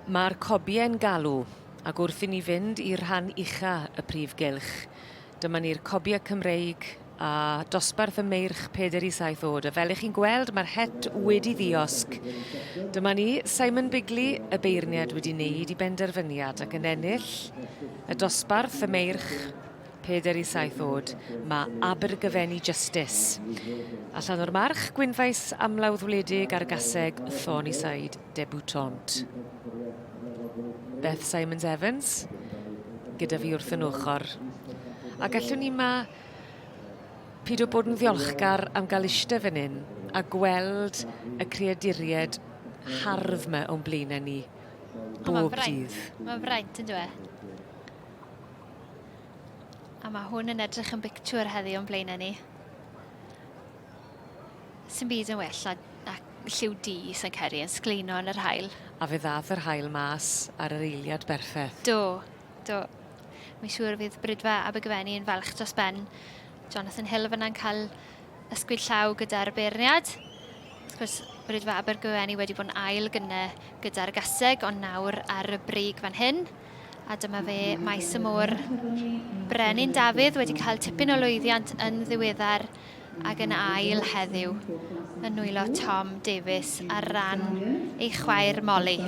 Mae'r cobie'n galw, ac wrth i ni fynd i'r rhan ucha y prif gylch, dyma ni'r cobie Cymreig a dosbarth y meirch peder i saith oed, a fel ych chi'n gweld mae'r het wedi ddiosg. Dyma ni, Simon Bigley, y beirniad wedi wneud i benderfyniad ac yn ennill y dosbarth y meirch peder i saith oed, mae Abergyfeni Justice. Allan o'r march, gwynfaes amlawdd wledig ar gaseg Thorny Side. debutante. Beth Simons Evans gyda fi wrth yn ochr. A gallwn ni ma pyd o bod yn ddiolchgar am gael eistedd fan hyn a gweld y creaduried hardd yma o'n blaenau ni bob dydd. Mae'n fraint yn dweud. A mae hwn yn edrych yn bictwr heddi o'n blaenau ni. Sy'n byd yn well na, na lliw di sy'n ceri yn sgleino yn yr hael. A fe ddath yr hael mas ar yr eiliad berffeth. Do, do. Mae'n siŵr fydd Brydfa Abergyfenni yn falch dros ben. Jonathan Hill fyna'n cael ysgwyd llaw gyda'r beirniad. Wrth gwrs, Brydfa Abergyfenni wedi bod yn ail gyne gyda'r gaseg, ond nawr ar y brig fan hyn. A dyma fe, maes y môr. Brenin Dafydd wedi cael tipyn o lwyddiant yn ddiweddar ac yn ail heddiw yn nwylo Tom Davies ar ran ei chwaer Molly.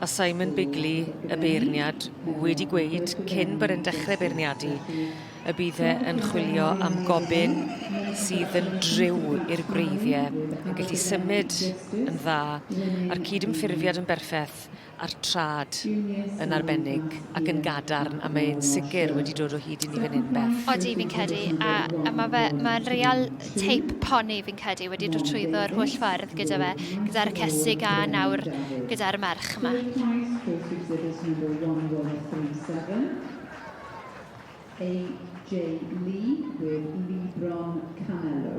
A Simon Bigley, y beirniad, wedi gweud cyn bod e'n dechrau beirniadu y bydd e yn chwilio am gobyn sydd yn driw i'r gwreiddiau, yn gallu symud yn dda, a'r cydymffurfiad yn berffaith a'r trad yn arbennig ac yn gadarn a mae e'n sicr wedi dod o hyd i ni fan hyn Beth. Odi fi'n credu a a ma' fe ma'n real teip poni fi'n credu wedi dod trwyddo yr holl ffordd gyda fe gyda'r cesig a nawr gyda'r merch yma. AJ Lee with Lebron Canelo.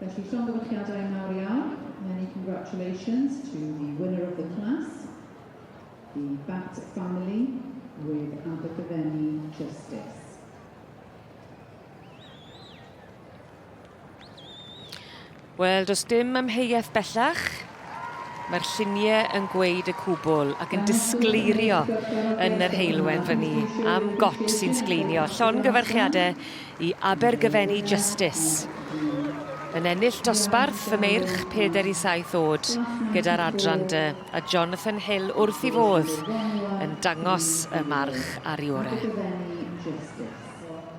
Felly llongyfarchiadau mawr iawn, many congratulations to the winner of the class, the Batt family with Abergavenny Justice. Wel, does dim amheuaeth bellach Mae'r llunie yn gweud y cwbwl ac yn disgleirio yn yr heulwen fyny am got sy'n sgleinio. Llongyfarchiade i Abergyfenni Justice yn ennill dosbarth y meirch peder i saith oed gyda'r adran dy a Jonathan Hill wrth i fodd yn dangos y march ar Iore.